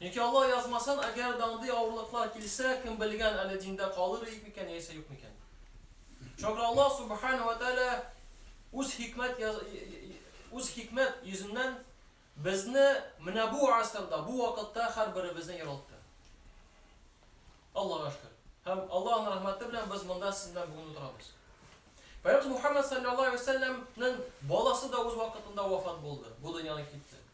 Яки Алла язмасын, әгәр дә андый авырлыклар килсә, кем белгән, әле диндә калыр идек микән яисә юк микән? Чөнки Алла Субхана ва Тәгалә үз хикмәт үз хикмәт йөзеннән безне менә бу асырда, бу вакытта һәрберебезне яралты. Аллага шөкер. Һәм Аллаһның рәхмәте белән без монда сез белән бүген утырабыз. Пәйгамбәр Мухаммад саллаллаһу алейһи ва саллямның баласы да үз вакытында вафат булды. Бу дөньяны китте.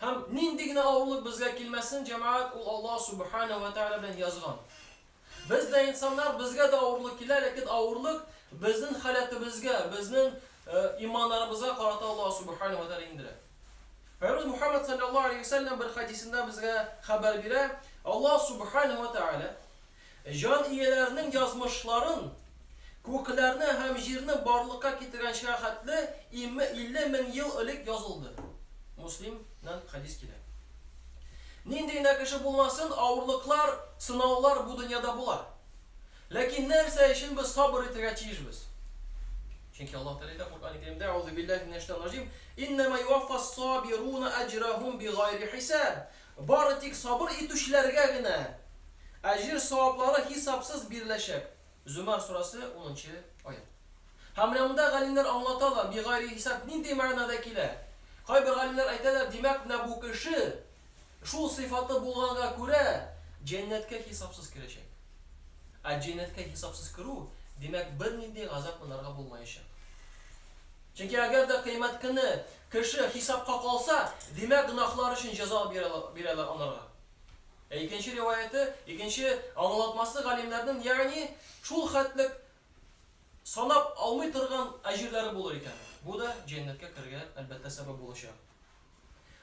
Һәм нинди генә авырлык безгә килмәсен, җәмәгать, ул Аллаһ Субханәһү вә Тәгалә белән язган. Без дә инсаннар, безгә дә авырлык килә, ләкин авырлык безнең халәтебезгә, безнең иманнарыбызга карата Аллаһ Субханәһү вә Тәгалә иңдерә. Пәйгамбәр Мухаммад салләллаһу алейһи вә сәлләм бер хәдисендә безгә хәбәр бирә, Аллаһ Субханәһү вә Тәгалә Җан ияләренең язмышларын, күкләрне һәм җирне барлыкка китергәнчегә хәтле илле мең ел элек язылды. Муслим нән хәдис килә. Нинди генә кеше булмасын, авырлыклар, сынаулар бу дөньяда була. Ләкин нәрсә өчен без сабыр итергә тиешбез? Чөнки Аллаһ Тәгалә әйтә Коръәни Кәримдә, Әгъузубиллаһи минәш-шәйтанир-раҗим, Иннәмә юаффас-сабируна әҗрәһум бигайри хисаб. Бары тик сабыр итүчеләргә генә әҗер-саваплары хисапсыз биреләчәк. Зөмәр сурәсе, унынчы аять. Һәм менә монда галимнәр аңлаталар, бигайре хисап нинди мәгънәдә килә. Кайбер галимнәр әйтәләр, димәк, менә бу кеше, шул сыйфаты булганга күрә, җәннәткә хисапсыз керәчәк. Ә җәннәткә хисапсыз керү, димәк, бернинди газап монарга булмаячак. Чөнки әгәр дә Кыямәт көне кеше хисапка калса, димәк, гөнаһлары өчен җәза бирәләр анарга. Ә икенче риваяте, икенче аңлатмасы галимнәрнең, ягъни, шул хәтлек санап алмый торган әҗерләре булыр икән. Бу да җәннәткә керергә, әлбәттә, сәбәп булачак.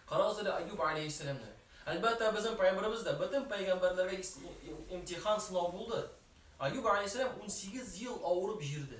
Карагыз әле Әйюб галәйһиссәламне. Әлбәттә, безнең пәйгамбәребез дә, бөтен пәйгамбәрләргә имтихан, сынау булды. Әйюб галәйһиссәлам унсигез ел авырып җирде.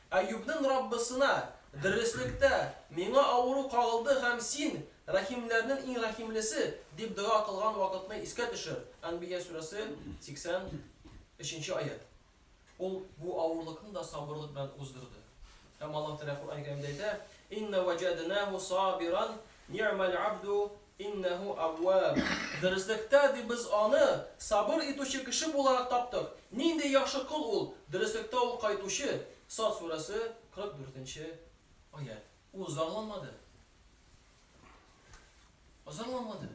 Әюпнең Раббысына, Дөреслектә, миңа авыру кагылды һәм Син, рәхимләрнен иң рәхимлесе, дип дога кылган вакытны искә төшер, Әнбия сүрәсе, 83 нче аять. Ул бу авырлыкны да сабырлык белән уздырды. Һәм Аллаһ Тәгалә Коръән-Кәримдә әйтә, Инна вәҗәднәһу сабиран, ни'мәл абду, Иннәһү Әүвәб. Дөреслектә, ди, без Аны сабыр итүче кеше буларак таптык. Нинди яхшы кол ул! Дөреслектә ул кайтучы. Сад сүрәсе, 44 нче аять. Ул зарланмады. Зарланмады.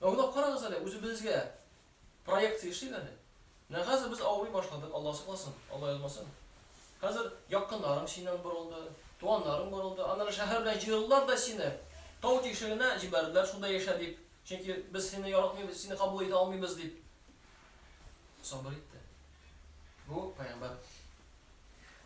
Уйлап карагыз әле үзебезгә. Проекция эшлик әле. Менә хәзер без авырый башладык, Алла сакласын, Алла язмасын. Хәзер якыннарың синнән борылды, туганнарың борылды. Аннары шәһәр белән җыелдылар да сине тау тишегенә җибәрделәр, шунда яшә дип. Чөнки без сине яратмыйбыз, сине кабул итә алмыйбыз дип. Сабыр итте. Бу пәйгамбәр.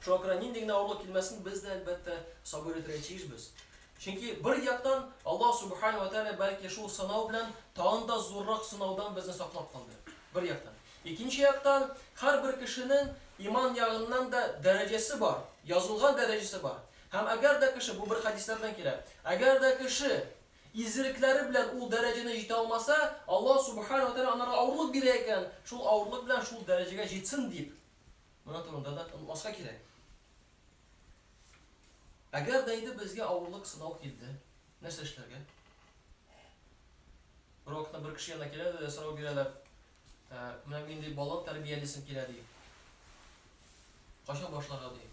Шуңа күрә нинди генә авырлык килмәсен, без дә, әлбәттә, сабыр итәргә тиешбез. Чөнки, бер яктан, Аллаһ Сүбхәнәһү вә Тәгалә бәлки шул сынау белән тагын да зуррак сынаудан безне саклап калды. Бер яктан. Икенче яктан, һәрбер кешенең иман ягыннан да дәрәҗәсе бар, язылган дәрәҗәсе бар. Һәм әгәр дә кеше, бу бер хәдисләрдән килә, әгәр дә кеше изгелекләре белән ул дәрәҗәне җитә алмаса, Аллаһ Сүбхәнәһү вә Тәгалә анарга авырлык бирә икән, шул авырлык белән шул дәрәҗәгә җитсен дип. Моның турында да онытмаска кирәк. Әгәр дә инде безгә авырлык, сынау килде, нәрсә эшләргә? Бер вакытта бер кеше янына киләләр дә сорау бирәләр. Ә, менә мин ди бала тәрбиялисем килә ди. Кайчан башларга ди?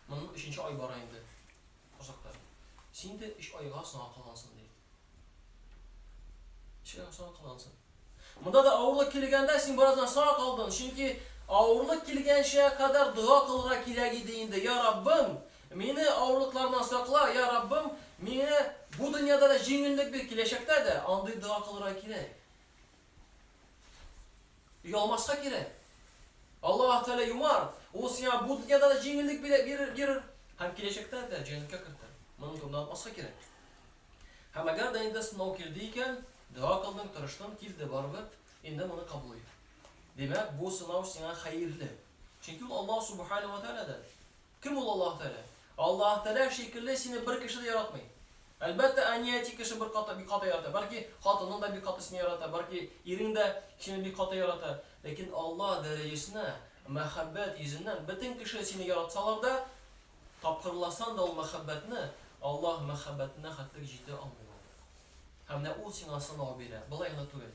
Моның өченче ай бара инде. Озакта. Син дә өч айга соңга калгансың ди. Кешегә сау кылансың. Монда да авырлык килгәндә син бераздан сау калдың, чөнки авырлык килгәнчә кадәр дога кылырга кирәк иде инде. Я Раббым, мине авырлыклардан сакла, я Раббым, миңа бу дөньяда да җиңеллек бир, киләчәктә дә, андый дога кылырга кирәк. Оялмаска кирәк. Аллаһ Тәгалә юмар, ул сиңа бу дөньяда да җиңеллек бирер һәм киләчәктә дә җәннәткә кертер. Моны турында онытмаска кирәк. Һәм әгәр дә инде сынау килде икән, дога кылдың, тырыштың, килде барыбер, инде моны кабул ит. Димәк, бу сынау сиңа хәерле. Чөнки ул Аллаһ Субханаһу ва Тәгаләдән. Кем ул Аллаһ Тәгалә? Аллаһ Тәгалә шикелле сине бер кеше дә яратмый. Әлбәттә, әни, әти кешене бер кат, бик каты ярата. Бәлки, хатының да бик каты сине ярата, бәлки, ирең дә сине бик каты ярата. Ләкин Аллаһ дәрәҗәсенә, мәхәббәт йөзеннән, бөтен кеше сине яратсалар да, тапкырласан да ул мәхәббәтне Аллаһ мәхәббәтенә хәтлек җитә алмый ул. Һәм менә Ул сиңа сынау бирә, болай гына түгел.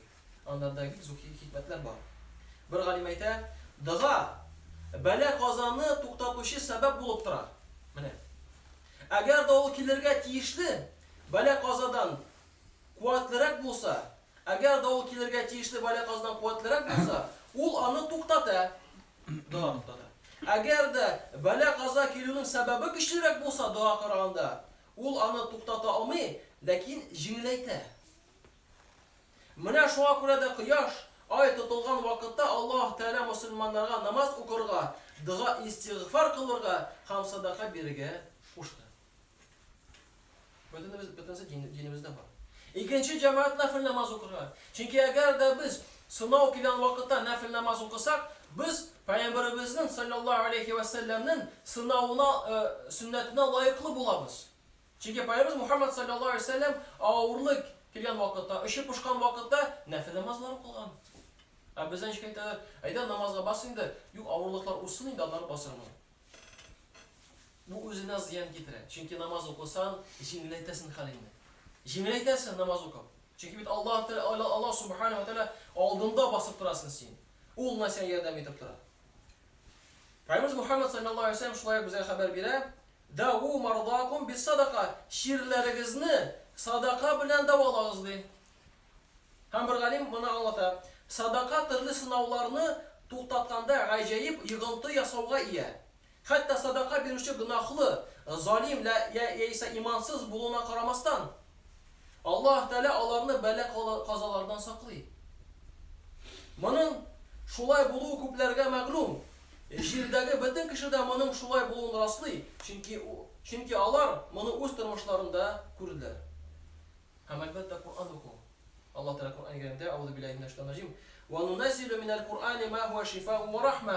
Аннарда бик зур хикмәтләр бар. Бер галим әйтә, Дога бәла-казаны туктатучы сәбәп булып тора. Менә. Әгәр дә ул килергә тиешле бәла-казадан куәтлерәк булса, әгәр дә ул килергә тиешле бәла-казадан куәтлерәк булса, ул аны туктата. Дога туктата. Әгәр дә бәла-каза килүнең сәбәбе көчлерәк булса, дога караганда, ул аны туктата алмый, ләкин җиңеләйтә. Менә шуңа күрә дә кояш, ай тотылган вакытта Аллаһ Тәгалә мөселманнарга намаз укырга, дога-истигъфар кылырга һәм садака бирергә кушты. Бөтенебез, бөтенесе динебездә бар. Икенче җәмәгать нәфел намаз укырга. Чөнки әгәр дә без сынау килгән вакытта нәфел намаз укысак, без Пәйгамбәребезнең салләллаһу алейһи вә сәлләмнең сынавына, сөннәтенә лаеклы булабыз. Чөнки Пәйгамбәребез Мухәммәд салләллаһу галәйһи вә сәлләм авырлык килгән вакытта, очы пошкан вакытта нәфел намазлар укыган. Ә бездә ничек әйтәләр, әйдә намазга бас инде, юк, авырлыклар узсын инде, аннары басырмын. Бу үзенә зыян китерә. Чөнки намаз укысаң, җиңеләйтәсең хәлеңне. Җиңеләйтәсең намаз укып. Чөнки бит Аллаһ Тәгалә, Аллаһ Субхана ва Тәгалә алдында басып торасың син. Ул гына сиңа ярдәм итеп тора. Пәйгамбәребез Мухәммәд салләллаһу галәйһи вә сәлләм шулай ук безгә хәбәр бирә, Дәгу мәрдәакум биссадака, чирләрегезне садака белән дәвалагыз, ди. Һәм бер галим моны аңлата, Садака төрле сынауларны туктатканда гаҗәеп йогынты ясауга ия. Хәтта садака бирүче гөнаһлы, залим яисә имансыз булуына карамастан, Аллаһ Тәгалә аларны бәла-казалардан саклый. Моның шулай булуы күпләргә мәгълүм. Җирдәге бөтен кеше дә моның шулай булуын раслый, чөнки чөнки алар моны үз тормышларында күрделәр. Һәм, әлбәттә, Коръән уку. Аллаһ Тәгалә Коръәни Кәримдә, Әгъузубиллаһи минәш шәйтанир раҗим, Ва нунәззилү минәл Коръәни ма һуа шифау ва рахма.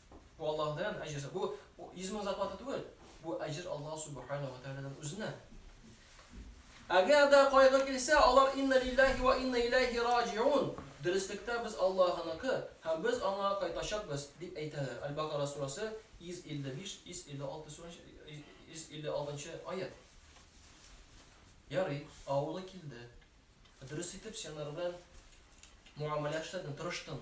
Бу Аллаһыдан әҗер. Бу 100 мең зарплата түгел. Бу әҗер Аллаһ субхана ва тәгаләдән үзенә. Әгәр дә кайгы килсә, алар инна лиллаһи ва инна иләйһи раҗиун. Дөреслектә без Аллаһыныкы һәм без аңа кайтачакбыз, дип әйтәләр. Аль-Бакара сурәсе 155-156 сүрәсе 156 нчы аят. Ярый, авыры килде. Дөрес итеп сианар белән муамәлә эшләдем, тырыштым.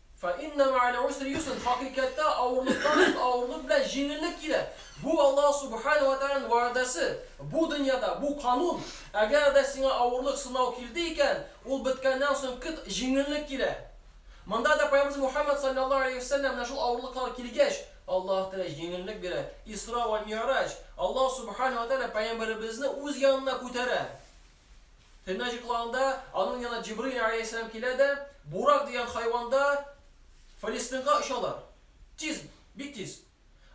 Фә иннә мәгәл усри юсрән, хакыйкатьтә авырлыктан соң авырлык белән җиңеллек килә. Бу Аллаһ Субхаһу вә Тәгаләнең вәгъдәсе, бу дөньяда, бу канун. Әгәр дә сиңа авырлык, сынау килде икән, ул беткәннән соң көт, җиңеллек килә. Монда да Пәйгамбәребез Мухәммәд салләллаһу галәйһи вә сәлләм менә шул авырлыклар килгәч, Аллаһ Тәгалә җиңеллек бирә. Исра вә Ми'раҗ, Аллаһ Субхаһу вә Тәгалә пәйгамбәребезне үз янына күтәрә. Төнне җоклаганда, аның янына Җибраил галәйһиссәлам килә дә, Бурак дигән хайванда Фәлестыйнга очалар. Тиз, бик тиз.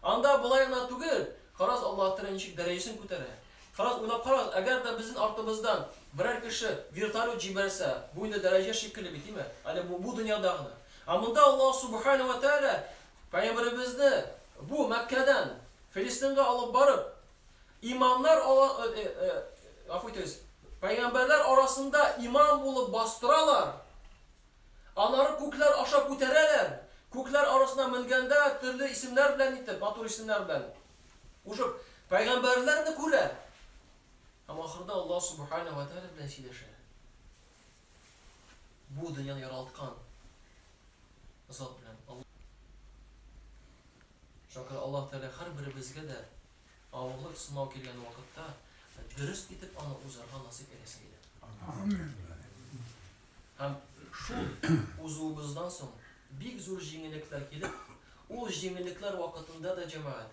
Анда болай гына түгел, карагыз Аллаһ Тәгалә ничек дәрәҗәсен күтәрә. Карагыз, уйлап карагыз, әгәр дә безнен артыбыздан берәр кеше вертолет җибәрсә, бу инде дәрәҗә шикелле бит, име? Әле бу дөньяда гына. Ә монда Аллаһ Субхаһу вә Тәгалә пәйгамбәребезне бу Мәккәдән Фәлестыйнга алып барып, Имамнар ала, гафу итегез, пәйгамбәрләр арасында имам булып бастыралар, анары күкләр аша күтәрәләр, күкләр арасына менгәндә төрле исемнәр белән итеп, матур исемнәр белән кушып, пәйгамбәрләрне күрә һәм ахырда Аллаһ Субхана ва Тәгалә белән сөйләшә. Бу дөньяны яралткан Зат белән, Аллаһ. Шуңа күрә Аллаһ Тәгалә һәрберебезгә дә авырлык, сынау килгән вакытта дөрес итеп аны узарга насыйп әйләсен иде. Амин. Һәм шул узуыбыздан соң бик зур җиңеллекләр килеп, ул җиңеллекләр вакытында да, җәмәгать,